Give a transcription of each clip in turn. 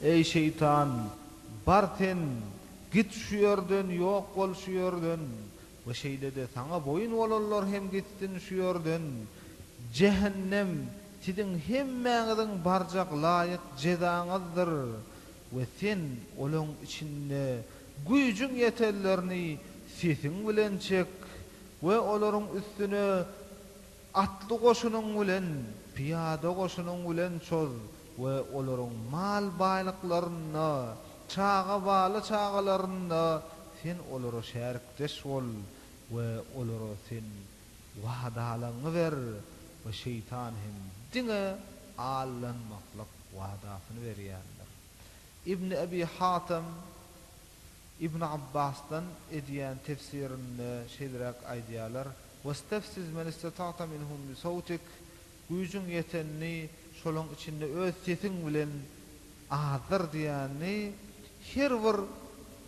Eý şeýtan, bar sen, git şu ýerden, ýok bol şu ýerden we şeýle-de saňa boýun bolanlar hem gitsin şu ýerden. Jähennem siziň hemmäňiziň barjak laýyk jezaňyzdyr we sen olaň içinde güýjüň ýetenlerini sesiň bilen çek we olaryň üstüne Atly goşunyň bilen, pyýada goşunyň bilen çoz we olaryň mal-baýlyklarynda, çaga-bala çagalarynda sen olara şärikdeş bol we olara sen wadalaňy ber we şeýtan hem diňe aldanmaklyk wadasyny berýändir. Ibn Ebi Hatem. Ibn Abbasdan edýän tefsirinde şeýleräk aýdýarlar, Westefziz men istata'ta minhum bi sawtik, Güýjüň ýetenini şolaryň içinde öz sesiň bilen azdyr diýýäni her bir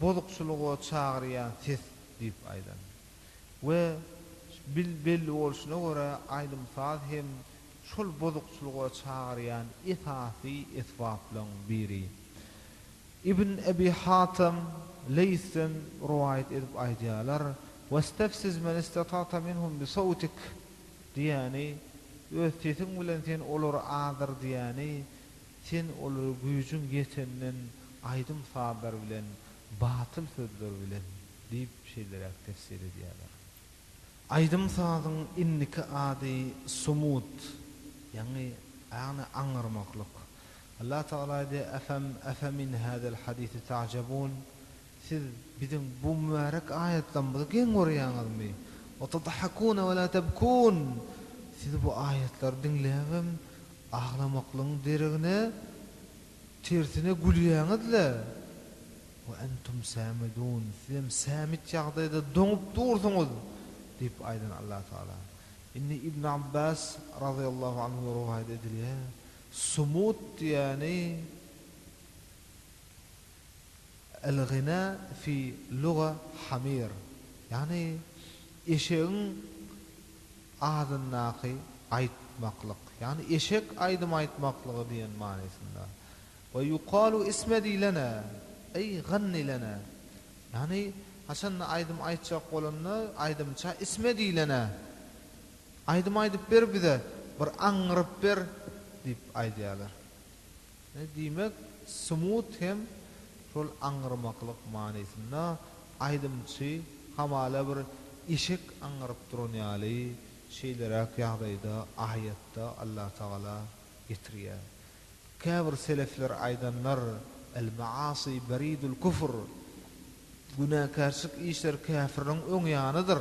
bozukçylyga çagyrýan ses diýip aýdan. We belli bolşuna görä aýdym-saz hem şol bozukçylyga çagyrýan esasy esbaplaryň biri. Ibn Ebi Hatem, Leýsden rowaýat edip aýdýarlar, Westefziz men istata'ta minhum bi sawtik, diýýäni, Öz sesiň bilen sen olary azdyr diýýäni, Sen olary güýjüň ýeteninden aýdym-sazlar bilen, batyl sözler bilen diýip şeýleräk tefsir edýärler. Aýdym-sazyň indiki ady sumut, ýagny aňyrmaklyk. Allah Tagala aýdýar, Efem efemin hazal hadisi ta'jabun, Siz biziň bu mübärek aýatlarymyzy geň görýäňizmi? Wa tadhakuna wa la tabkun, Siz bu aýatlary diňläbem aglamaklygyň deregine, tersine gülýäňiz-le. Wa entum samidun, Sizem samit ýagdaýda doňup dursuňyz diýip aýdan Allah Tagala. Indi Ibn Abbas, razyýallahu anhu, rowaýat edilýär, Sumut diýýäni El-gina fi luga hamir, ýagny eşegiň adyndaky aýtmaklyk, ýagny eşek aýdym aýtmaklygy diýen manysynda. We ýukalu ismedi lena, eý ganni lena, ýagny haçanda aýdym aýtjak bolanda aýdymça ismedi lena, Aýdym aýdyp ber bize, bir aňňyryp ber, diýip aýdýarlar. Diýmek, smut hem şol aňňyrmaklyk manysynda, aýdymçy hamala bir eşek aňňyryp duran ýaly şeýleräk ýagdaýda aýatda Allatagala getirýär. Käbir selefler aýdanlar, El-maasy beridul kufr, günäkärçilik işleri käfirligiň öň ýanydyr.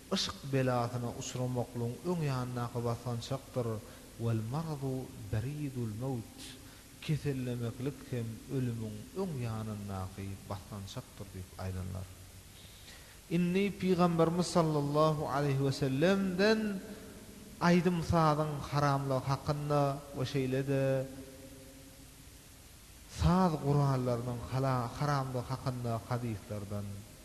Yşk belasyna uçramaklygyň öň ýanyndaky basgançakdyr, Wal maradu beridul mewt, Kesellemeklik hem ölümiň öň ýanyndaky basgançakdyr diýip aýdanlar. Indi Pygamberimiz sallallahu aleýhi we sellemden aýdym-sazyň haramlygy hakynda we şeýle-de saz gurallarynyň haramlygy hakynda hadyslardan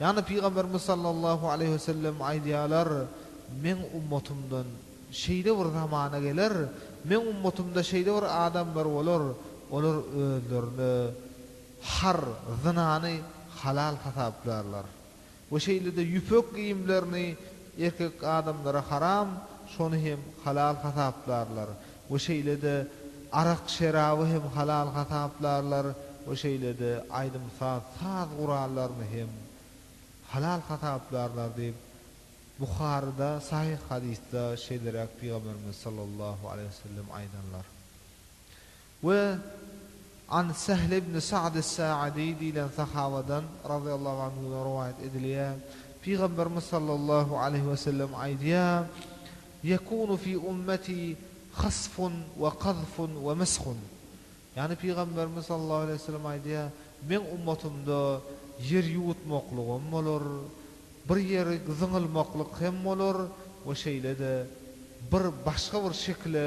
Ýagny Pygamberimiz sallallahu aleýhi we sellem aýdýarlar, Meň ummatymdan şeýle bir zamana geler, meň ummatymda şeýle bir adamlar bolar, olar özlerine har, zynany, halal hasaplarlar. We şeýle-de ýüpek geýimlerini erkek adamlara haram, şony hem halal hasaplarlar. we şeýle-de arak-şeraby hem halal hasaplarlar we şeýle-de aýdym-saz, saz gurallaryny hem halal hasaplarlar diýip, Buharyda sahyh hadysda şeýleräk Pygamberimiz sallallahu aleýhi we sellem aýdanlar. We An Sähl ibn Sa'd es-Sa'dy diýlen sahabadan, razyýallahu anhudan rowaýat edilýär, Pygamberimiz sallallahu aleýhi we sellem aýdýar, Ýekunu fi ummeti hasfun we kazfun we meshun, ýagny Pygamberimiz sallallahu aleýhi we sellem aýdýar, Meň ummatymda ýer ýuwutmaklygam bolar, bir ýeri zyňylmaklyk hem bolar we şeýle-de bir başga bir şekile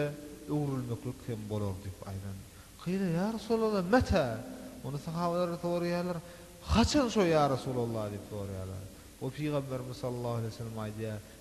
öwrülmeklik hem bolar diýip aýdan. Kyle ýa Resulallah meta? Ony sahabeler soraýarlar, Haçan şo ýa Resulallah diýip soraýarlar. We Pygamberimiz sallallahu aleýhi we sellem aýdýar,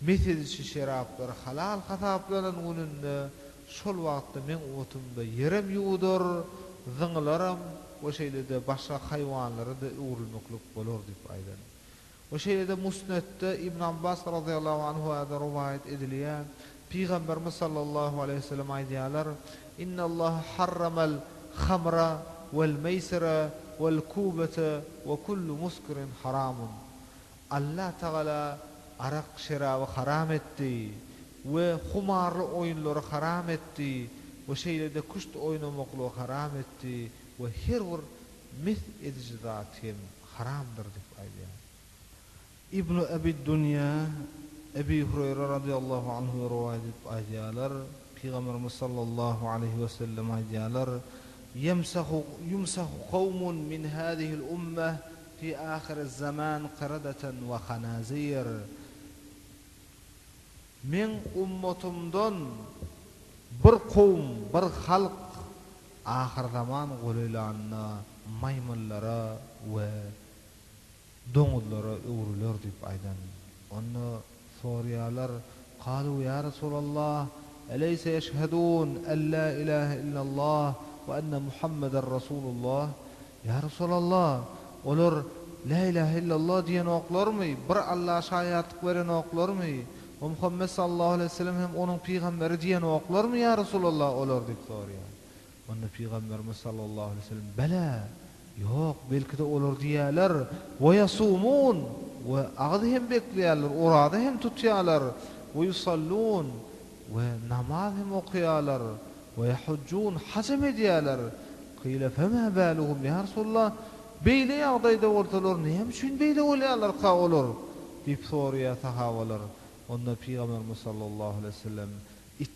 Mes ediji şeraplar halal hasaplanan gününde şol wagtda meň otumda ýerem ýuwudar, zyňylaram we şeýle-de başga haýwanlara-da öwrülmeklik bolar diýip aýdan. We şeýle-de Musnetde Ibn Abbas razyýallahu anhu-da rowaýat edilýär, Pygamberimiz sallallahu aleýhi we sellem aýdýarlar, Innallaha harramal hamra wal meýsira wal kubata we kullu muskirin haramun. Allah Tagala arak şeraby haram etdi we humarly oýunlary haram etdi we şeýle-de küşt oýnamaklygy haram etdi we her bir mes ediji zat hem haramdyr diýip aýdýar. Ibnu Ebi Dunýa, Ebi Hureýre radiyallahu anhu rowaýat edip aýdýarlar, Pygamberimiz sallallahu aleýhi we sellem aýdýarlar, Ýemsahu, Ýumsahu kowmun min hâzihil ummeh Fi ahyriz-zaman qiradaten we hanazir, Meň ummatymdan bir kowum, bir halk ahyrzaman golaýlanda maýmynlara we doňuzlara öwrüler diýip aýdan. Onda Sorýarlar, Kalu ýa Resulallah, eleýse eşhedun ellä ilähe illallah we enne Muhammeder Resulullah, Ýa Resulallah, olar Lä ilähe illallah diýenoklarmy, bir Alla şaýatlyk berenoklarmy we Muhammet sallallahu aleýhi we sellem hem onuň pygamberi diýenoklarmy ýa Resulallah olar diýip sorýar. Onda Pygamberimiz sallallahu aleýhi we sellem, Bele, ýok, belki-de olar diýýärler, Ve yasumun, we agyz hem bekleýärler, oraza hem tutýarlar, Ve yusallun, we namaz hem okaýarlar, Ve yahujjun, haj hem edýärler. Kyle, Fema baluhum, ýa Resulallah, beýle ýagdaýda bolsalar, näme üçin beýle bolýarlarka olar? diýip soraýar sahabalar. Onda Pygamberimiz sallallahu aleýhi we sellem,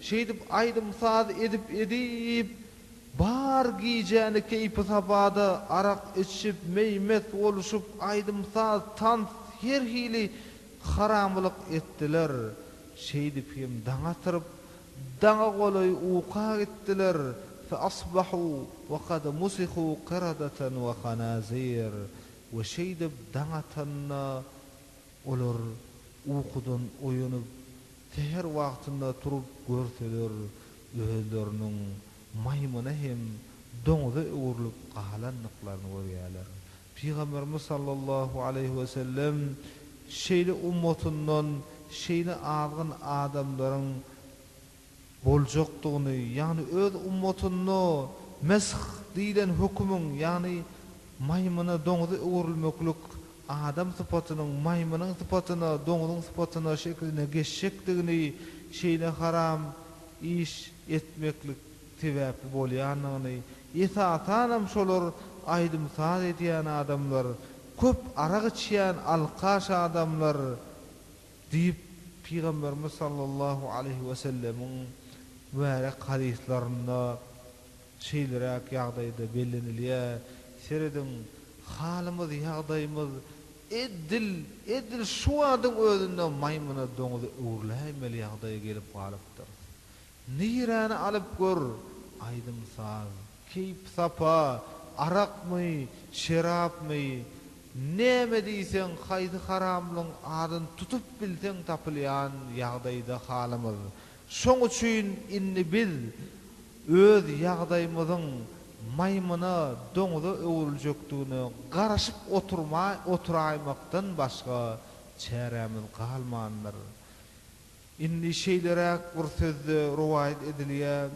Şeýdip aýdym-saz edip-edip, bar gijäni keýpi-sabada, arak içip, meý-mest bolşup, aýdym-saz, tans, her hili haramylyk etdiler. Şeýdip hem daň atyryp, daňa golaý uka gitdiler, fe asbahu we kad musihu kiradatan we hanazir, we şeýdip daň atanda, Olar ukudan oýanyp, säher wagtynda turup görseler, özleriniň maýmyna hem doňuza öwrülip galandyklaryny görýärler. Pygamberimiz sallallahu aleýhi wesellem şeýle ummatyndan şeýle azgyn adamlaryň boljakdygyny, ýagny öz ummatynda Mesh diýlen hökümiň, ýagny maýmyna, doňuza öwrülmeklik, adam sypatynyň maýmynyň sypatyna, doňuzyň sypatyna, şekline geçjekdigini, şeýle haram iş etmeklik sebäpli bolýandygyny, esasanam şolar aýdym-saz edýän adamlar, köp arak içýän alkaş adamlar, Diýip, Pygamberimiz sallallahu aleýhi wesellemiň mübärek hadyslarynda şeýleräk ýagdaýda bellenilýär, Serediň, halymyz, ýagdaýymyz ed-dil, edil şu wadyň özünde maýmyna, doňuza öwrüläýmeli ýagdaýa gelip galypdyrys. Niräni alyp gör, aýdym-saz, keýp-sapa, arakmy, şerapmy, näme diýseň, haýsy haramlygyň adyny tutup bilseň tapylýan ýagdaýda halymyz. Şoň üçin indi biz öz ýagdaýymyzyň maýmyna, doňza öwrüljekdigine garaşyp oturmaý oturaýmakdan başga çärämiz galmandyr. Indi şeýleräk bir sözde rowaýat edilýär,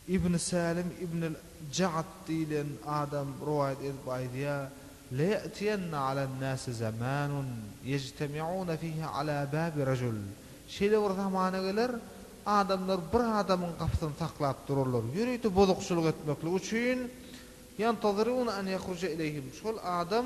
Ibn Sälim ibnül Ja'd diýlen adam rowaýat edip aýdýar, Leýetiýenne alan-nasi zamanun ýejtemi'una fihi ala babi rajul, Şeýle bir zamana geler, adamlar bir adamyň gapysyny saklap durarlar, ýörite bozukçylyk etmeklik üçin, ýantaziruna an ýahruja ileýhim, şol adam,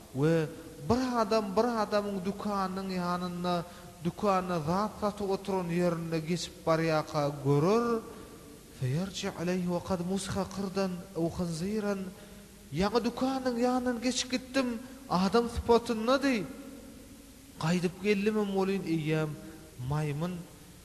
We bir adam bir adamyň dükanynyň ýanynda dükanda zat satyp oturan ýerinde geçip barýarka görer, Feýerji aleýhi we kad musha kyrdan ew khinziran, Ýaňy dükanynyň ýanyndan geçip gitdim, adam sypatyndady. Gaýdyp geldimem welin eýýäm maýmyn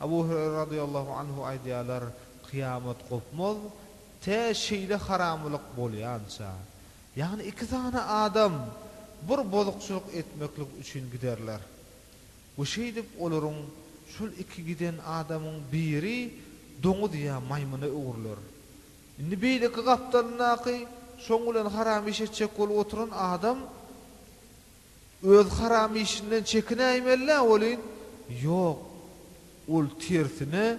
Abu Hüreýre radyllahu anhu aýdýarlar, Kyýamat gopmaz, tä şeýle haramlyk bolýança, ýagny iki sany adam bir bozukçylyk etmeklik üçin giderler we şeýdip olaryň, şol iki giden adamyň, biri doňuz ýa maýmyna öwrüler. Indi beýleki gapdalyndaky, şoň bilen haram iş etjek bolup oturan adam, Öz haram işinden çekinäýmelä welin, ýok, ol tersine,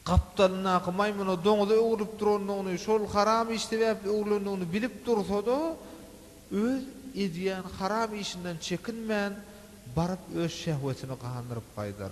gapdalyndaky maýmyna doňuza öwrülip durandygyny, şol haram iş sebäpli öwrülendigini bilip dursa-da, öz edýän haram işinden çekinmän, baryp öz şehwetini gandyryp gaýdar.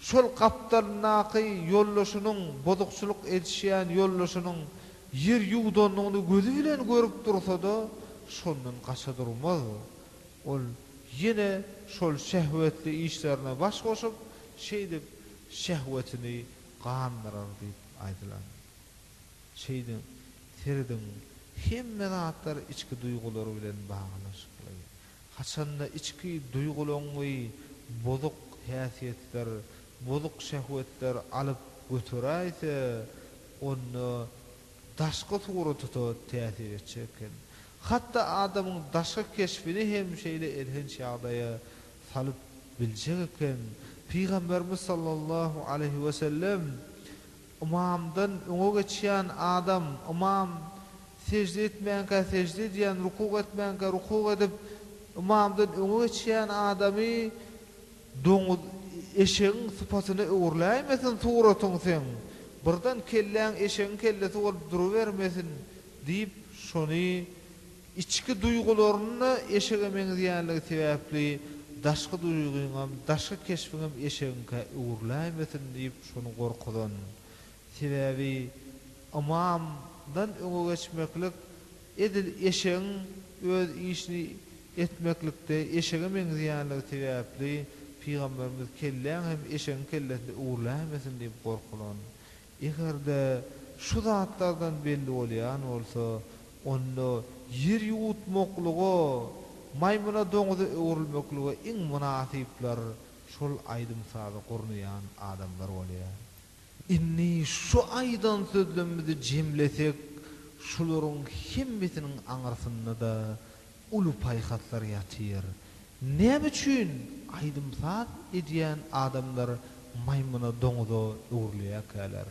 Şol gapdalyndaky ýoldaşynyň, bozukçylyk edişýän ýoldaşynyň ýer ýuwdandygyny gözi bilen görüp dursa-da, şondan gaça durmaz. Ol ýene şol şehwetli işlerine baş goşup, şeýdip, şehwetini gandyrar diýip aýdylan. Şeýdip, serediň, hemme zatlar içki duýgular bilen baglanyşykly. Haçanda içki duýgulaňňy bozuk häsiýetler, bozuk şehwetler alyp göteräýse, onda daşky surata-da täsir etjek eken. Hatda adamyň daşky keşbini hem şeýle elhenç ýagdaýa salyp biljek eken. Pygamberimiz sallallahu aleýhi wesellem Ymamdan öňe geçýän adam, ymam sežde etmänkä sežde edýän, rukuk etmänkä rukuk edip, ymamdan öňe geçýän adamy doňuz, eşegiň sypatyna öwrüläýmesin suratyň seň, birden kelläň eşegiň kellesi bolup durubermesin diýip, şony Içki duýgularyň-da eşege meňzeýänligi sebäpli, daşky duýgyňam, daşky keşbiňem eşegiňkä öwrüläýmesin diýip şony gorkuzan. Sebäbi ymamdan öňe geçmeklik edil eşegiň öz işini etmeklikde eşege meňzeýänligi sebäpli, pygamberimiz kelläň hem eşegiň kellesine öwrüläýmesin diýip gorkulan. Eger-de şu zatlardan belli bolýan bolsa, onda ýer ýuwutmaklyga, maýmyna doňuza öwrülmeklige iň mynasyplar şol aýdym-sazy gurnaýan adamlar bolýar. Indi şu aýdan sözlemimizi jemlesek, şularyň hemmesiniň aňyrsynda-da uly paýhaslar ýatyr. Näme üçin aýdym-saz edýän adamlar maýmyna, doňuza öwrülýärkäler?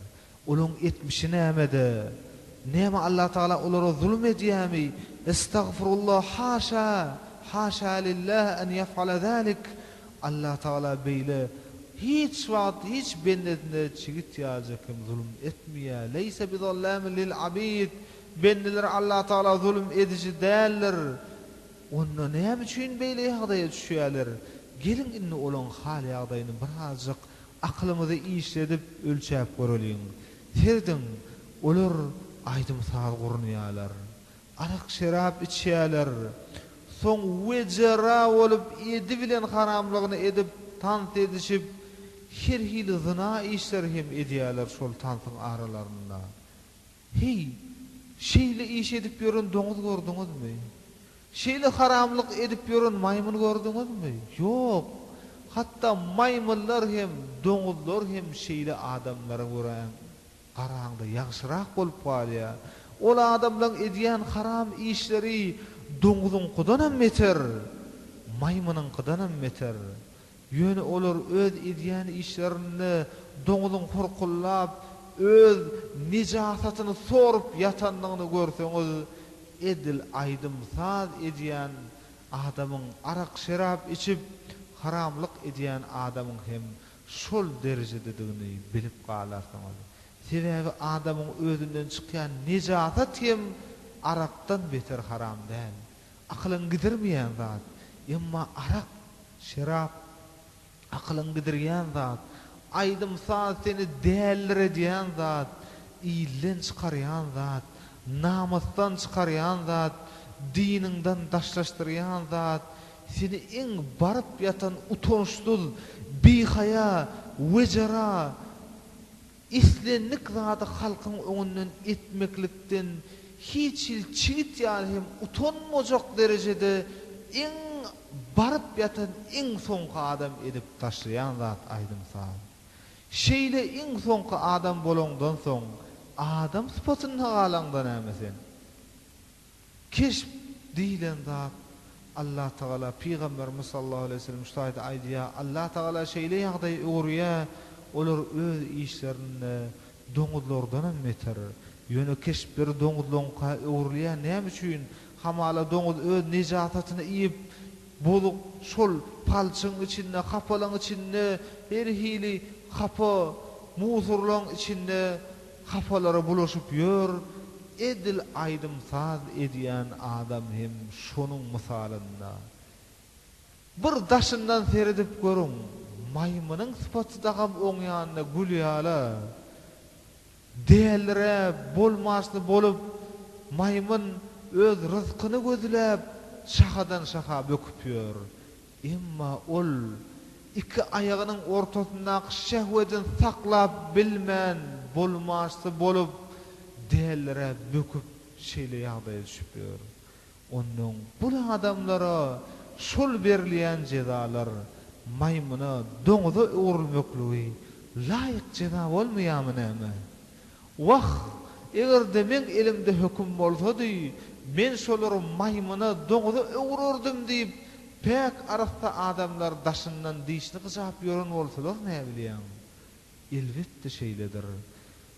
Olaň etmişi nämede? Näme Allatagala olara zulum edýämi? Estagfirullah haşa, haşa lillah en ýef'ala zalik! Allatagala beýle hiç wagt hiç bendesine çigit ýaljak hem zulum etmeýär. Leýse bizallamin lil abid! Bendeleri Allah Tagala zulum ediji däldir. Onda näme üçin beýle ýagdaýa düşýärler? Geliň indi olaň hal-ýagdaýyny birazjyk akylyňyzy işledip ölçäp göreliň. Serediň, olar aýdym-saz gurunýarlar. Arak-şerap içýärler. Soň wejera bolup edi bilen haramlygyny edip tans edişip, her hili zyna işleri hem edýärler şol tansyň aralarynda. Heý, şeýle iş edip ýören doňuz gördüňizmi? Şeýle haramlyk edip ýören maýmyn gördüňizmi? Ýok! Hatda maýmynlar hem, doňuzlar hem şeýle adamlara göräň, garaňda ýagşyrak bolup galýar. Ol adamlaň edýän haram işleri doňuzyňkydanam beter, maýmynyňkydanam beter. Ýöne olar öz edýän işlerinde doňuzyň hurkullap, öz nejasatyny sorup ýatanyny görseňiz, edil aýdym-saz edýän adamyň, arak-şerap içip, haramlyk edýän adamyň hem şol derejededigini bilip galarsyňyz. Sebäbi adamyň özünden çykýan nejasat hem arakdan beter haram däl. Akylyňy gidirmeýän zat. Emma arak, şerap akylyňy gidirýän zat. Aýdym-saz seni dälliredýän zat, ilden çykarýan zat, namysdan çykarýan zat, diniňden daşlaşdyrýan zat, seni iň baryp ýatan utançsyz, bihaýa, wejera, Islendik zady halkyň öňünden etmeklikden hiç hil çigit ýaly hem utanmajak derejede iň baryp ýatan iň soňky adam edip taşlaýan zat aýdym-saz. Şeýle iň soňky adam bolaňdan soň adam sypatynda galaňda näme sen? Keşp diýilen zat, Allatagala, Pygamberimiz sallallahu aleýhi we sellem şu taýda aýdýar, Allatagala şeýle ýagdaýy öwürýär, olar öz işlerinde doňuzlardanam beter. Ýöne keşpleri doňuzlaryňka öwrülýär, näme üçin? Hamala doňuz öz nejasatyny iýip, bozuk şol palçygyň içinde, hapalygyň içinde, her hili hapa, musurlaryň içinde, Hapalara bulaşyp ýör, edil aýdym-saz edýän adam hem şonuň mysalynda. Bir daşyndan seredip görüň, maýmynyň sypaty dagam oňýanda gülýäla. Dälirä, bolmaçly bolup, maýmyn öz ryzkyny gözläp, şahadan-şaha böküp ýör. Emma ol, iki aýagynyň ortasyndaky şehwedini saklap bilmän, bolmaçsy bolup, dälirä böküp, şeýle ýagdaýa düşüp ýör. Onnoň bul adamlara şol berilýän jezalar, maýmyna, doňuza öwrülmekligi laýyk jeza bolmaýarmy näme? Wah, eger-de meň elimde höküm bolsady, men şolary maýmyna, doňuza öwürerdim diýip, päk arassa adamlar daşyndan dişini gyjap ýören bolsalar näbilýäň? Elbetde şeýledir.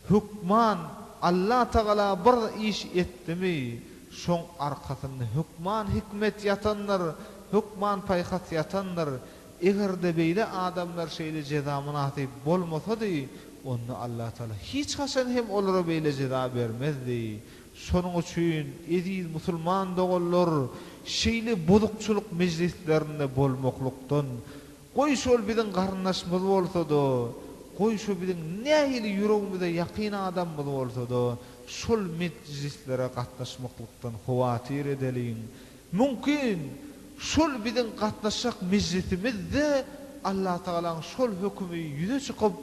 Hökman Allatagala bir iş etdimi, şoň arkasynda hökman hikmet ýatandyr, hökman paýhas ýatandyr. Eger-de beýle adamlar şeýle jeza mynasyp bolmasady, onda Allatagala hiç haçan hem olara beýle jeza bermezdi. Şonuň üçin, eziz musulman doganlar, şeýle bozukçylyk mejlislerinde bolmaklykdan, goý şol biziň garyndaşymyz bolsa-da, goý şo biziň nähili ýüregimize ýakyn adamymyz bolsa-da, şol mejlislere gatnaşmaklykdan howatyr edeliň. Mümkin, şol biziň gatnaşjak mejlisimiz-de Allatagalaň şol hökümi ýüze çykyp,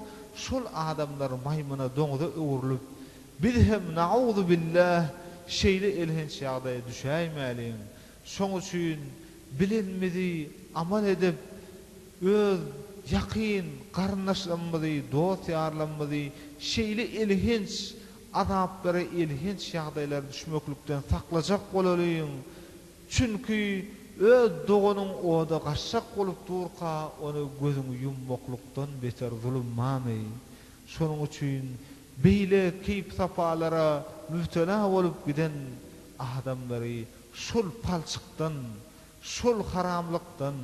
şol adamlar maýmyna, doňza öwrülip, biz hem, naguzubillah, şeýle elhenç ýagdaýa düşäýmäliň. Şoň üçin bilenimizi amal edip, öz ýakyn garyndaşlarymyzy, dost-ýarlarymyzy şeýle elhenç Azaplara elhenç ýagdaýlara düşmeklikden saklajak bolalyň, çünki öz doganyň oda gaçjak bolup durka, ony gözüňi ýummaklykdan beter zulum barmy? Şonuň üçin beýle keýp-sapalara mübtela bolup giden adamlary şol palçykdan, şol haramlykdan,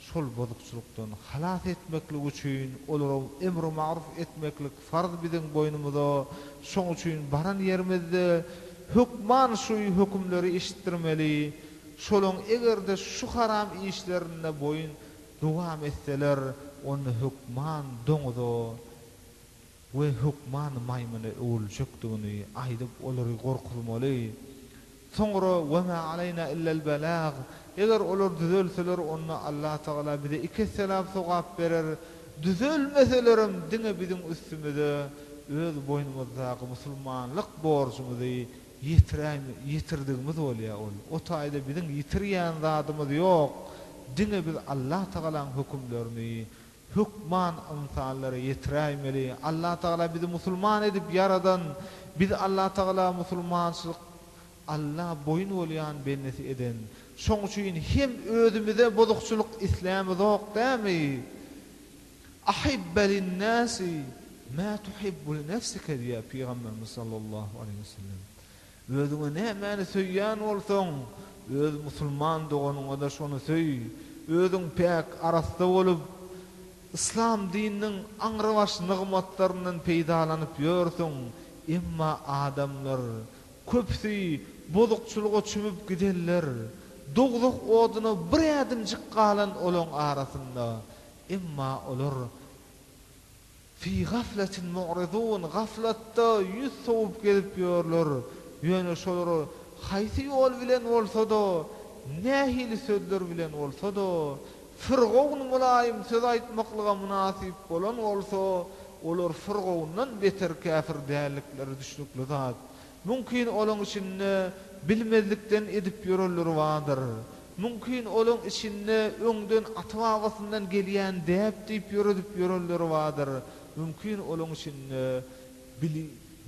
Şol bozukçylykdan halas etmeklik üçin olara emri magruf etmeklik farz biziň boýnumyza, şoň üçin baran ýerimizde hökman şu hökümleri eşitdirmeli, şolaň eger-de şu haram işlerinde boýun dowam etseler, onda hökman doňuza, we hökman maýmyna öwrüljekdigini aýdyp olary gorkuzmaly. Soňra, Wa ma aleýna illel belag, eger olar düzelseler onda Allatagala bize iki esse lap sogap berer, düzelmeselerem diňe biziň üstümize öz boýnumyzdaky musulmanlyk borjumyzy ýetiräý ýetirdigimiz bolýar ol o taýda biziň ýitirýän zadymyz ýok diňe biz Allatagalaň hökümlerini Hökman ynsanlara ýetiräýmeli. Allatagala bizi musulman edip ýaradan, bizi Allatagala musulmançylyk Alla boýun bolýan bendesi eden. Şoň üçin hem özümize bozukçylyk islämizok dämi? Ahibb linnäsi mä tuhibbu linefsike diýýär Pygamberimiz sallallahu aleýhi wesellem. Özüňe nämäni söýýän bolsaň, öz musulman doganyňa-da şony söý. Özüň päk, arassa bolup, yslam dininiň aňrybaş nygmatlaryndan peýdalanyp ýörsüň, emma adamlar, köpüsi bozukçylyga çümüp gidenler, dogzah oduna bir ädimjik galan olaň arasynda, emma olar, Fi gafletin mu'ridun, gaflatda ýüz sowup gezip ýörler, ýöne şolara haýsy ýol bilen bolsa-da, nähili sözler bilen bolsa-da, firgawn mylaýym söz aýtmaklyga mynasyp bolan bolsa, olar firgawndan beter käpir däldikleri düşnükli zat. Mümkin olaň içinde bilmezlikden edip ýörenleri bardyr. Mümkin olaň içinde öňden ata-babasyndan gelýän däp diýip ýöredip ýörenleri bardyr. Mümkin olaň içinde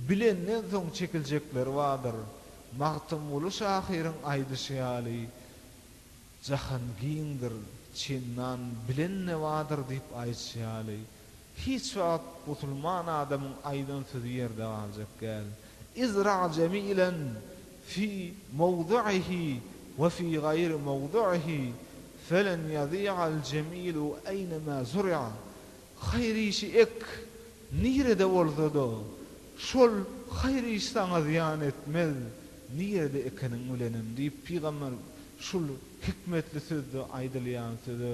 bilenden soň çekiljekleri bardyr. Magtymguly şahyryň aýdyşy ýaly, Jahan giňdir, çendan bilen-de bardyr diýip aýdyşy ýaly. Hiç wagt musulman adamyň aýdan sözi ýerde galjak däl. Izra jemilen fi mowdi'ihi we fi gaýri mowdi'ihi, felen ýazi'al jemilu eýnemä zur'a, Haýyr işi ek, nirede bolsa-da, şol haýyr iş saňa zyýan etmez, nirede ekeniň bilenem diýip, pygamber şul hikmetli sözde aýdylýan söze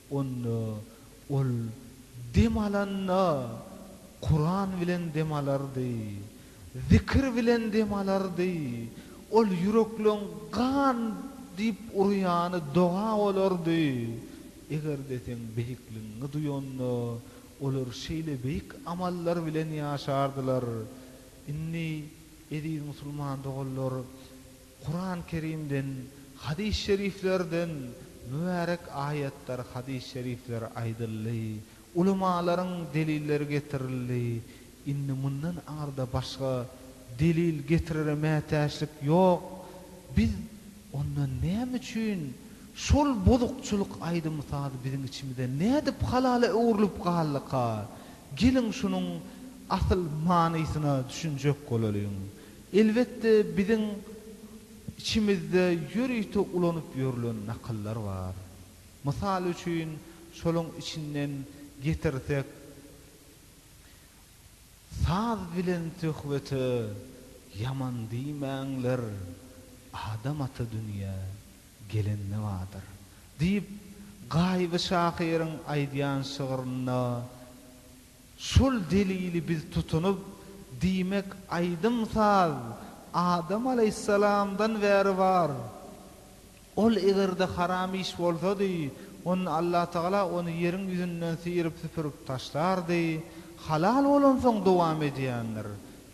Onda ol dem alanda Kuran bilen dem alardy, zikir bilen dem alardy, ol ýürekleň gan diýip urýany doga bolardy. Eger-de seň beýikligiňi duýanda, olar şeýle beýik amallar bilen ýaşardylar. Indi, eziz musulman doganlar, Kurany Kerimden, hadys şeriflerden mübärek aýatlar, hadys şerifler aýdyldy, ulemalaryň delilleri getirildi, indi mundan aňyrda başga delil getirere mätäçlik ýok, biz onda näme üçin şol bozukçylyk aýdym sazy biziň içimizde nädip halala öwrülip galdyka, geliň şunuň asyl manysyna düşünjek bolalyň. Elbetde biziň içimizde ýörite ulanyp ýörlen nakyllar bar. Mysal üçin şolaň içinden getirsek Saz bilen söhbete ýaman diýmäňler, adam ata dünýä gelen nebadyr. Diýip Gaýyby şahyryň aýdýan şygrynda Şol delili biz tutunyp, diýmek, aýdym-saz Adam alaýhyssalamdan bäri bar. Ol eger-de haram iş bolsady, onda Allatagala ony ýeriň ýüzünden syryp-süpürip taşlardy, halal bolansoň dowam edýändir,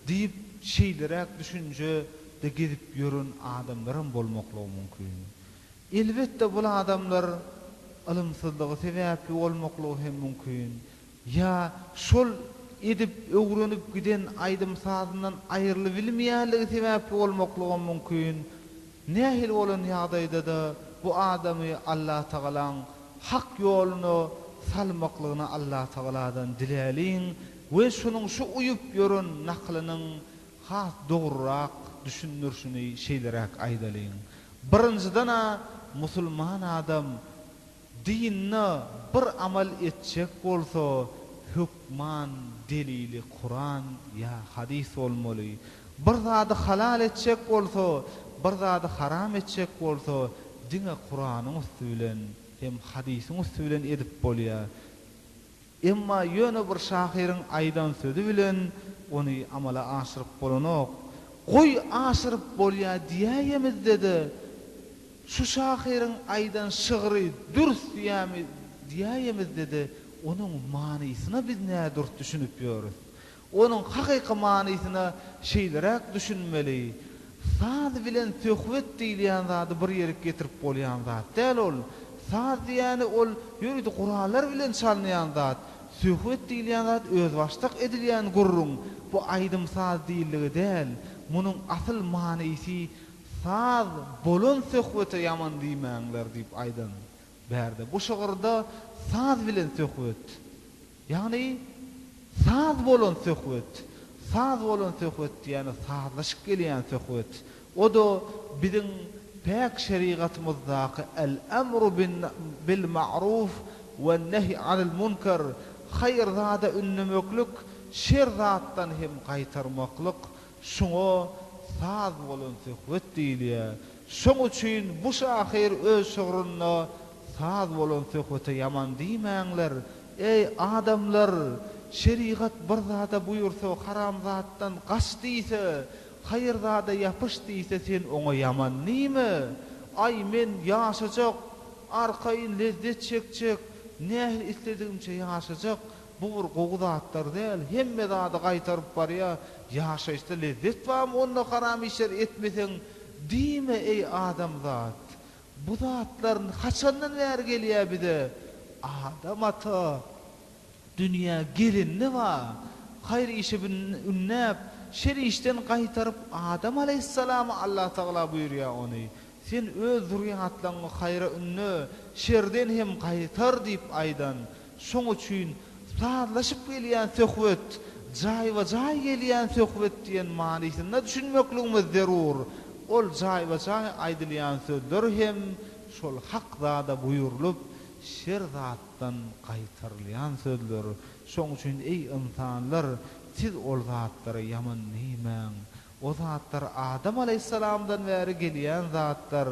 diýip, şeýleräk düşünjede gezip ýören adamlaram bolmaklygy mümkin. Elbetde, bul adamlar ylymsyzlygy sebäpli bolmaklygy hem mümkin. Ýa şol edip öwrenip giden aýdym-sazyndan aýrylybilmeýänligi sebäpli bolmaklygam mümkin. Nähili bolan ýagdaýda-da bu adamy Allatagalaň hak ýoluna salmaklygyny Allatagaladan diläliň we şonuň şu uýup ýören nakylynyň has dogrurak düşündirişini şeýleräk aýdalyň. Birinjiden-ä musulman adam Dinde bir amal etjek bolsa hökman delili Kuran ýa hadys bolmaly. Bir zady halal etjek bolsa, bir zady haram etjek bolsa diňe Kuranyň üsti bilen hem hadysyň üsti bilen edip bolýar. Emma ýöne bir şahyryň aýdan sözi bilen ony amala aşyryp bolanok. Goý, aşyryp bolýa diýäýemizde-de, şu şahyryň aýdan şygry dürs diýämi diýäýemizde-de, onuň manysyna biz nädürs düşünip ýörüs. Onuň hakyky manysyna şeýleräk düşünmeli, Saz bilen söhbet diýilýän zady bir ýerik getirip bolýan zat däl ol. Saz diýýäni ol ýörite gurallar bilen çalynýan zat. Söhbet diýilýän zat özbaşdak edilýän gürrüň. Bu aýdym-saz diýildigi däl. Munuň asyl manysy Saz bolan söhbete ýaman diýmäňler diýip aýdan. Bärde bu şygyrda saz bilen söhbet. Ýagny, saz bolan söhbet, saz bolan söhbet diýýäni sazlaşyk gelýän söhbet. O-da biziň päk şerigatymyzdaky El-emru bin bil-ma'ruf wen-nehy anil-munker, haýyr zada ündemeklik, şer zatdan hem gaýtarmaklyk, şuňa saz bolan söhbet diýilýär. Şoň üçin bu şahyr öz şygrynda Saz bolan söhbete ýaman diýmäňler. Eý, adamlar! Şerigat bir zada buýursa, haramzatdan gaç diýse, haýyrzada ýapyş diýse, sen oňa ýaman diýme! Aý, men ýaşajak, arkaýyn lezzet çekjek, nähili isledigimçe ýaşajak, bu bir gowy zatlar däl, hemme zady gaýtaryp barýa, ýaşaýyşda lezzet barmy onda haram işler etmeseň? diýme, eý, adamzat! Bu zatlar haçandan bäri gelýär bize? Adam ata dünýä gelende ba, haýyr işe ündäp, şer işden gaýtaryp, Adam alaýhyssalama Allatagala buýurýar ony, Sen öz zürýatlaryňy haýyra ünde, şerden hem gaýtar diýip aýdan. Şoň üçin sazlaşyp gelýän söhbet, jaýba-jaý gelýän söhbet diýen manysyna düşünmekligimiz zerur. Ol jaýba-jaý aýdylýan sözler hem şol hak zada buýrulyp, şer zatdan gaýtarylýan sözler. Şoň üçin, eý, ynsanlar, siz ol zatlara ýaman diýmäň. O zatlar Adam alaýhyssalamdan bäri gelýän zatlar.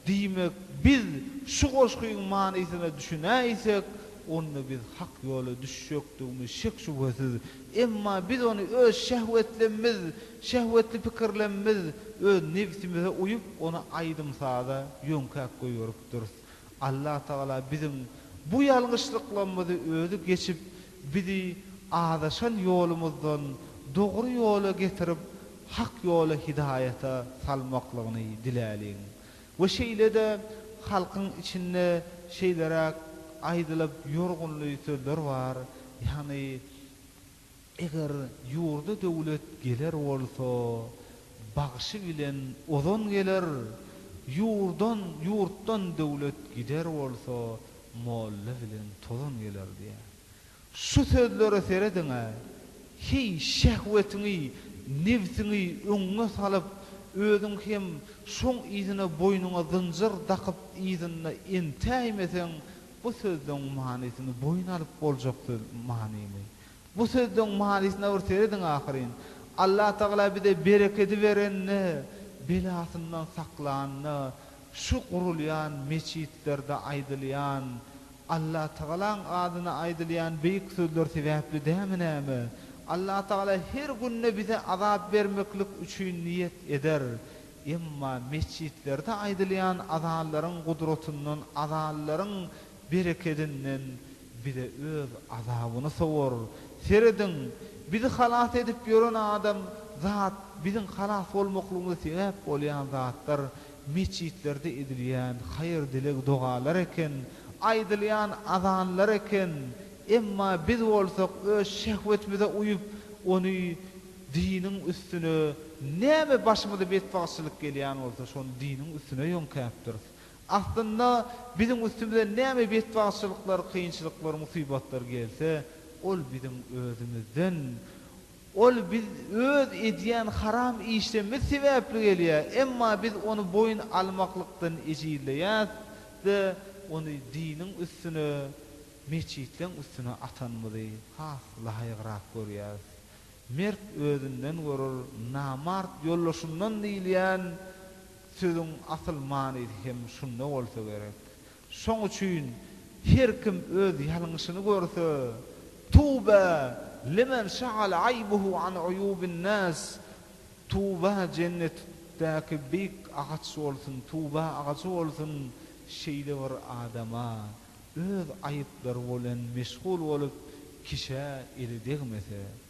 Diýmek, biz şu goşgyň manysyna düşünäýsek, onda biz hak ýola düşjekdigimiz şek-şübhesiz. Emma biz ony öz şehwetlemimiz, şehwetli pikirlemimiz, öz nebsimize uýup, ony aýdym-saza ýöňkäp goýberipdiris. Allatagala biziň bu ýalňyşlyklarymyzy özi geçip, bizi azaşan ýolumyzdan dogry ýola getirip, hak ýola hidaýata salmaklygyny diläliň we şeýle-de halkyň içinde şeýleräk aýdylyp ýorgunly sözler bar, ýagny eger ýurda döwlet geler bolsa, bagşy bilen ozan geler, ýurdan, ýurtdan döwlet gider bolsa, molla bilen tozan geler diýýär. Şu sözlere serediň-ä, Heý, şehwetiňi, nebsiňi öňňe salyp, özüň hem şoň yzyna boýnuňa zynjyr dakyp yzynda entäýmeseň, bu sözleň manysyny boýun alyp boljak söz manymy? Bu sözleň manysyna bir serediň ahyryn. Allatagala bize berekedi berende, belasyndan saklanda, şu gurulýan meçitlerde aýdylýan, Allatagalaň adyna aýdylýan beýik sözler sebäpli dämi näme? Allatagala her günde bize azap bermeklik üçin niýet eder. Emma metjitlerde aýdylýan azanlaryň gudratyndan azanlaryň berekedinden bize öz azabyny sowar. Serediň, bizi halas edip ýören adam zat biziň halas bolmaklygymyza sebäp bolýan zatlar Metjitlerde edilýän haýyr-dileg dogalar eken, aýdylýan azanlar eken, emma biz bolsak öz şehwetimize uýup, ony diniň üstüne näme başymyza betbagtçylyk gelýän bolsa, şony diniň üstüne ýöňkäpdiris. Aslynda biziň üstümize näme betbagtçylyklar, kynçylyklar, musibatlar gelse, ol biziň özümizden, Ol biz öz edýän haram işlerimiz sebäpli gelýär, emma biz ony boýun almaklykdan ejizleýäs-de, ony diniň üstüne, metjitleň üstüne atanymyzy has laýygrak görýäris. Mert özünden görür, namart ýoldaşyndan diýilýän sözüň asyl manysy hem şunda bolsa gerek. Şoň üçin her kim öz ýalňyşyny görse, Tuba limen şagala aýbuhu an uýubin nas, Tuba jennetdäki beýik agaç bolsun, tuba agajy bolsun şeýle bir adama, öz aýyplary bolen meşgul bolup kişä eli degmese.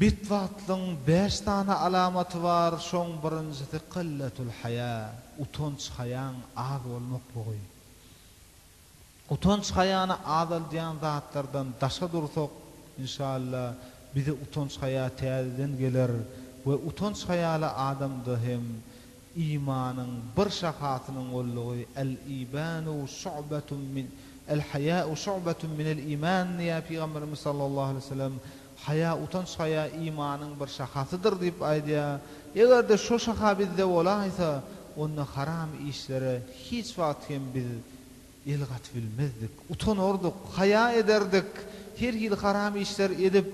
Betbagtlygyň bäş sany alamaty bar, şoň birinjisi qilletul haýa, utanç haýaň az bolmaklygy. Utanç haýany azaldýan zatlardan daşa dursak, inşalla bize utanç haýa täzeden geler we utanç haýaly adamda hem Imanyň bir şahasynyň boldugy El-ibanu şu'betun min El-haýa'u şu'betun minel iman diýýär Pygamberimiz sallallahu aleýhi we sellem, Haýa, utanç haýa imanyň bir şahasydyr diýip aýdýar. Eger-de şo şaha bizde bolaýsa, onda haram işlere hiç wagt hem biz El gaty bilmezdik. Utanardyk, haýa ederdik. Her hili haram işler edip,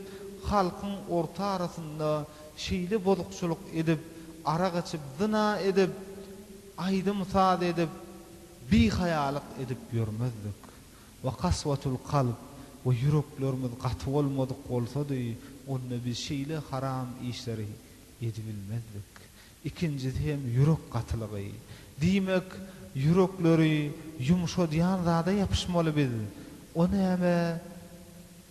halkyň orta arasynda şeýle bozukçylyk edip, arak içip, zyna edip, aýdym-saz edip, bihaýalyk edip ýörmezdik. Wa kaswatul kalb, we ýüreklerimiz gaty bolmadyk bolsady, onda biz şeýle haram işleri edibilmezdik. Ikinjisi hem ýürek gatylygy. Diýmek, ýürekleri ýumşadýan zada ýapyşmaly biz. O näme?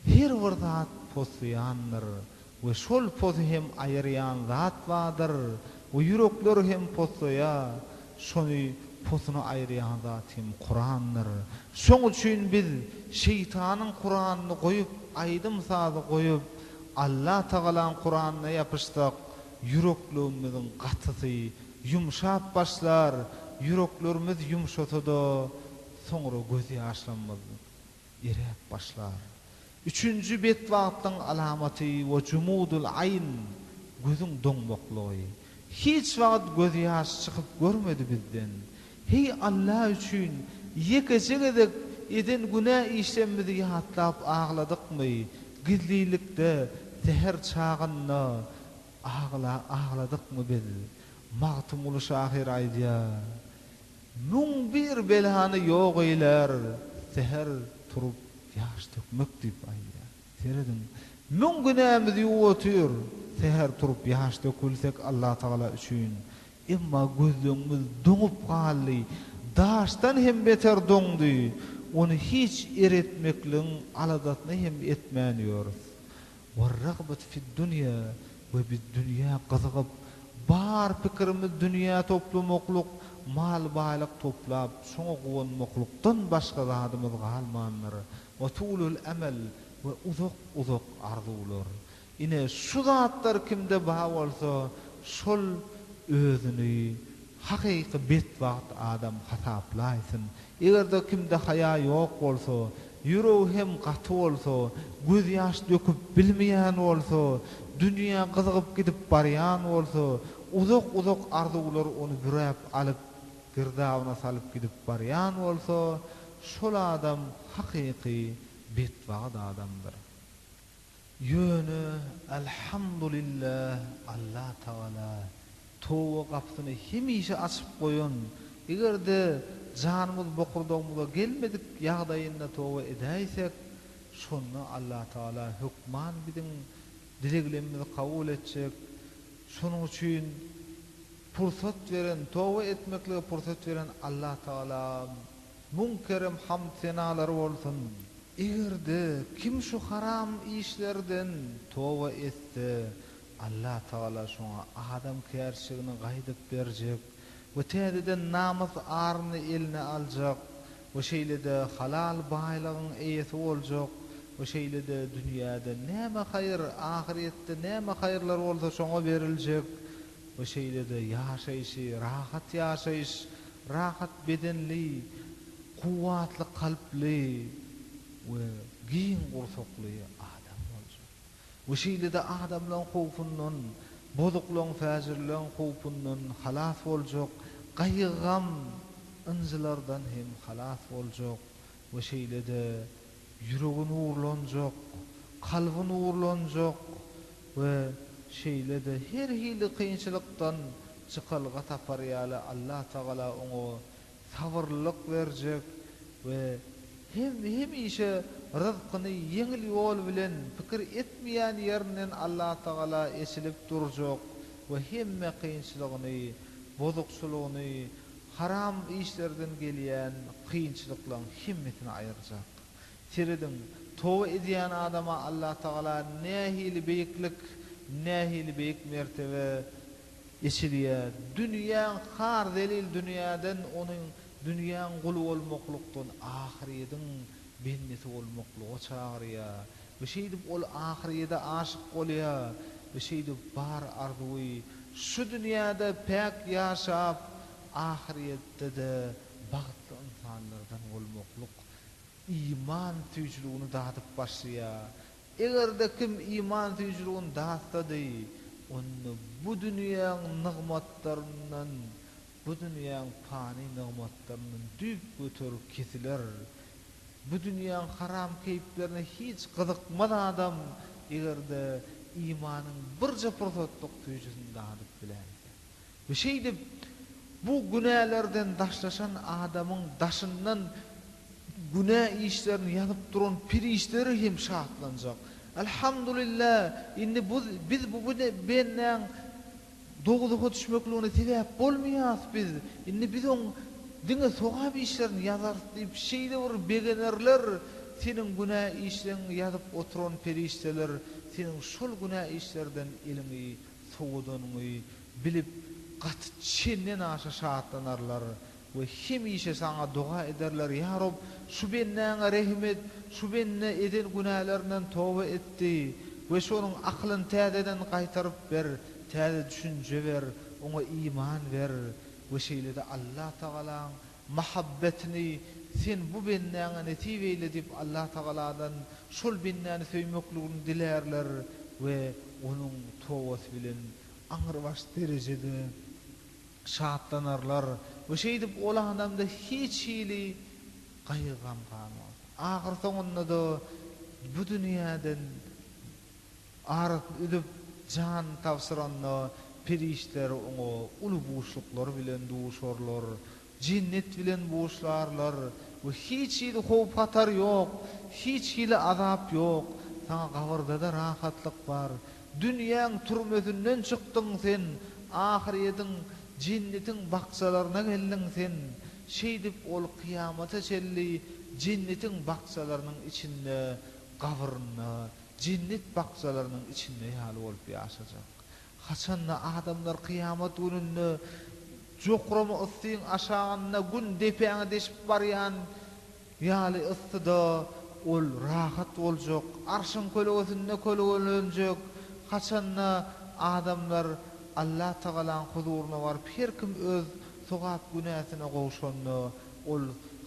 Her bir zat poslaýandyr we şol posy hem aýyrýan zat bardyr we ýürekler hem poslaýa. Şony posuny aýyrýan zat hem Kurandyr. Şoň üçin biz şeýtanyň Kuranyny goýup, aýdym-sazy goýup, Allatagalaň Kuranyna ýapyşsak, Ýürekligimiziň gatysy ýumşap başlar, ýüreklerimiz ýumşasa-da, soňra gözýaşlarymyz eräp başlar. Üçünji betbagtlygyň alamaty we jumudul aýn, gözüň doňmaklygy. Hiç wagt gözýaş çykyp görmedi bizden. Heý Alla üçin, ýekeje gezek eden günä işlerimizi ýatlap agladykmy? Gizlilikde, säher çagynda agla agladykmy biz? Magtymguly şahyr aýdýar, Müň bir belany ýok eýlär, säher turup ýaş dökmek diýip aýdýar. Serediň, müň günämizi ýuwup otyr, säher turup ýaş dökülsek Allatagala üçin, Emma gözleňimiz doňup galdy. Daşdan hem beter doňdy. Ony hiç eretmekligiň aladasyny hem etmän ýörüs. Werragbet fiddunýa, we biz dünýä gyzygyp, bar pikirimiz dünýä toplamaklyk, mal-baýlyk toplap, şoňa guwanmaklykdan başga zadymyz galmandyr. Watulul-emel, we uzak-uzak arzuwlar. Ine, şu zatlar kimde bar bolsa, şol özüni hakyky betbagt adam hasaplaýsyn. Eger-de kimde haýa ýok bolsa, ýüregi hem gaty bolsa, gözýaş döküp bilmeýän bolsa, dünýä gyzygyp gidip barýan bolsa, uzak-uzak arzuwlar ony büräp alyp, girdabyna salyp gidip barýan bolsa, şol adam hakyky betbagt adamdyr. Ýöne Alhamdulillah Allah Tagala toba gapysyny hemişe açyp goýan, egerde janymyz bokurdagymyza gelmedik ýagdaýynda toba edäýsek, şonda Allah Tagala hökman biziň dileglemimizi kabul etjek, şonuň üçin, pursat beren, toba etmeklige pursat beren Allah Tagala müň kerem hamd senalar bolsun! Eger-de kim şu haram işlerden toba etse, Allah Tagala şoňa adamkärçiligini gaýdyp berjek we täzeden namys aryny eline aljak we şeýle-de halal baýlygyň eýesi boljak we şeýle-de dünýäde näme haýyr, ahyrýetde näme haýyrlar bolsa şoňa beriljek we şeýle-de ýaşaýşy rahat ýaşaýyş, rahat bedenli, kuwwatly kalply we giň gursakly adam boljak we şeýle-de adamlaryň howpundan, bozuklaryň, fäjirleň howpundan halas boljak, gaýgy-gam, ynjylardan hem halas boljak we şeýle-de Ýüregi nurlanjak, kalby nurlanjak we şeýle-de her hili kynçylykdan çykalga tapar ýaly Allatagala oňa sabyrlylyk berjek we hem hemişe ryzkyny ýeňil ýol bilen pikir etmeýän ýerinden Allatagala eçilip durjak we hemme kynçylygyny, bozukçylygyny Haram işlerden gelýän kynçylyklaň hemmesini aýyrjak. Serediň, toba edýän adama Allatagala nähili beýiklik, nähili beýik mertebe eçilýär. Dünýäň har zelil dünýäden onuň dünýäň guly bolmaklykdan ahyrýediň bendesi bolmaklyga çagyrýar. Bir şeýdip ol ahyrýede aşyk bolýa, bir şeýdip bar arzuwy şu dünýäde päk ýaşap, ahyrýetde-de bagtly ynsanlardan bolmaklyk iman süýjüligini dadyp başlaýa. Eger-de kim iman süýjüligini datsady, onda bu dünýäň nygmatlaryndan Bu dünýäň pany nygmatlaryndan düýpgöter kesiler. Bu dünýäň haram keýplerine hiç gyzykmaz adam, eger-de imanyň birje pursatlyk süýjüsini dadyp bilen eken. We şeýdip, bu günälerden daşlaşan adamyň daşyndan günä işlerini ýazyp duran perişdeler hem şatlanjak. Alhamdulillah, indi biz bu bendäň Dowzaha düşmekligine sebäp bolmaýas biz, indi biz oň diňe sogap işlerini ýazarys diýip şeýle bir begenerler seniň günä işleňi ýazyp oturan perişdeler seniň şol günä işlerden eliňi sowadanyňy bilip gaty çenden aşa şatlanarlar We hemişe Saňa doga ederler, Ýa Reb, şu bendäňe rehim et, şu bende eden günälerinden toba etdi we şonuň aklyny täzeden gaýtaryp ber, täze düşünje ber, oňa iman ber we şeýle-de Allatagalaň mahabbetini Sen bu bendäňe nesip eýle diýip Allatagaladan şol bendäni söýmekligini dilärler we onuň tobasy bilen aňrybaş derejede şatlanarlar we şeýdip ol adamda hiç hili gaýgy-gam galmaz. Ahyrsoňunda-da bu dünýäden arasyny üzüp, janyny tabşyranda, perişdeler oňa uly buşluklar bilen duşarlar. Jennet bilen buşlarlar we hiç hili howp-hatar ýok, hiç hili azap ýok, saňa gabyrdada rahatlyk bar. Dünýäň türmesinden çykdyň sen, ahyrýetiň, jennetiň bakjalaryna geldiň sen. Şeýdip ol kyýamata çenli jennetiň bakjalarynyň içinde, gabyrynda, jennet bakjalarynyň içinde ýaly bolup ýaşajak. Haçanda adamlar kyýamat gününde jokrama yssyň aşagynda Gün depäňi deşip barýan ýaly yssyda ol rahat boljak, Arşyň kölegesinde kölegelenjek. Haçanda adamlar Allatagalaň huzuryna baryp, her kim öz sogap-günäsine gowşanda, ol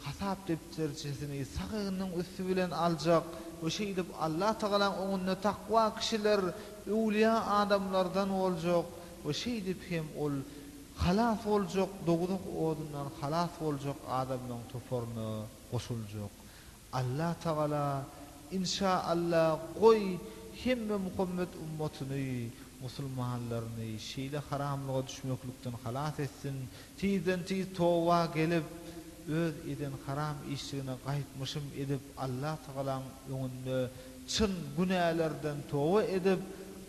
hasap depderçesini sag egniniň üsti bilen aljak we şeýdip Allatagalaň öňünde takwa kişiler Öwlüýä adamlardan boljak we şeýdip hem ol halas boljak dowzah odundan halas boljak adamlaryň toparyna goşuljak. Allatagala, inşa Allah, goý, hemme Muhammet ummatyny, musulmanlaryny şeýle haramlyga düşmeklikden halas etsin, tizden-tiz toba gelip, öz eden haram işligine gaýtmyşym edip Allatagalaň öňünde Çyn günälerden toba edip,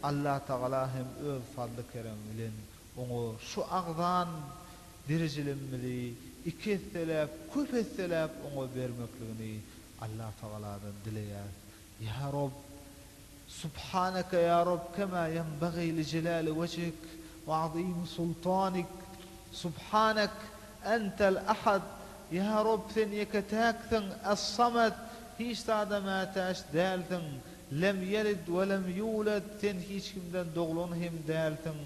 Allatagala hem öz fazly-keremi bilen oňa şu agzan birijilimimizi iki esseläp, köp esseläp oňa bermekligini Allatagaladan dileýäs. Ýa Rob! Subhaneke ýa Rob kema ýenbagî li jelâli wejhik we azîmi sultanik! Subhanek! Entel Ahad, Ýa Rob, Sen ýeke-täksiň, Es-Samed, hiç zada mätäç dälsiň, Lem Ýelid we Lem Ýuled, Sen hiç kimden doglan hem dälsiň,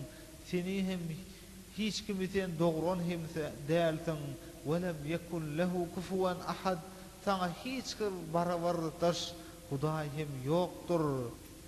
Seni hem, hiç kimi Sen dogran hem dälsiň, Ve Lem Ýekun Lehu Kufuwen Ahad, Saňa hiç bir barabardaş Hudaý hem ýokdur.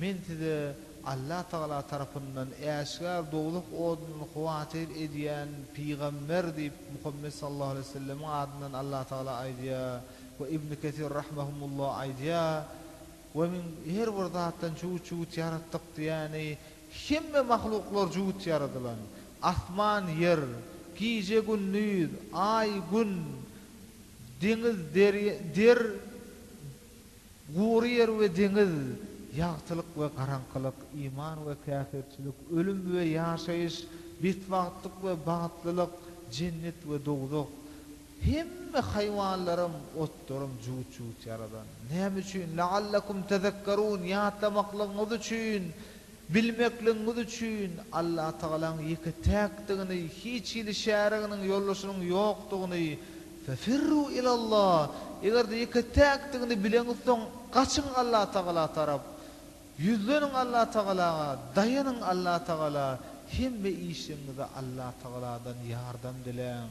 Men size Allah Tagala tarapyndan äşgär dowzah odunyny howatyr edýän pygamber diýip Muhammet sallallahu aleýhi wesellemiň adyndan Allah Tagala aýdýar we Ibn Kesir rahmehumullah aýdýar, We min her bir zatdan jübüt-jübüt ýaratdyk diýýäni hemme mahluklar jübüt ýaradylan, asman, ýer, gije, gündiz, aý, gün, deňiz, der, Gury ýer we deňiz, ýagtylyk we garaňkylyk, iman we käfirçilik, ölüm we ýaşaýyş, betbagtlyk we bagtlylyk, jennet we dowzah. Hemme haýwanlaram, otlaram jübüt-jübüt ýaradan. Näme üçin? La'allakum tezekkerun, ýatlamaklygyňyz üçin, Bilmekligiňiz üçin, Allatagalaň ýeke täkdigini, hiç hili şäriginiň, ýoldaşynyň ýokdugyny, Fefirru ilallah, eger-de ýeke täkdigini bileňizsoň, gaçyň Allatagala tarap, ýüzleniň Allatagalaga, daýanyň Allatagala, hemme işligiňizde Allatagaladan ýardam diläň,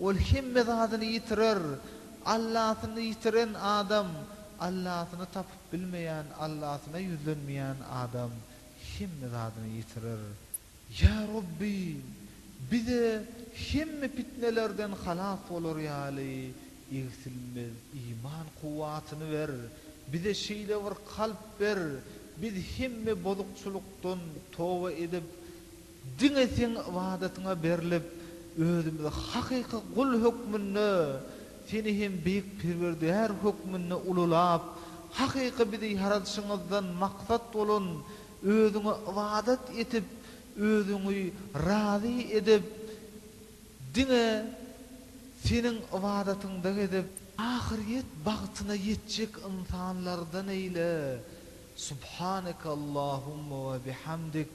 Ol hemme zadyny ýitirer. Allasyny ýitiren adam, Allasyny tapyp bilmeýän, Allasyna ýüzlenmeýän adam hemme zadyny ýitirer. Ýa Rabby! Bize hemme pitnelerden halas bolar ýaly egsilmez iman kuwwatyny ber. Bize şeýle bir kalp ber, biz hemme bozukçylykdan toba edip, Diňe Seň ybadatyňa berlip, özümizi hakyky gul hökmünde, Seni hem beýik Perwerdigär hökmünde ululap, hakyky bizi ýaradyşyňyzdan maksat bolan Özüňe ybadat etip, Özüňi razy edip, diňe Seniň ybadatyňda gezip, ahyrýet bagtyna ýetjek ynsanlardan eýle, Subhaneke Allahumma we bihamdik,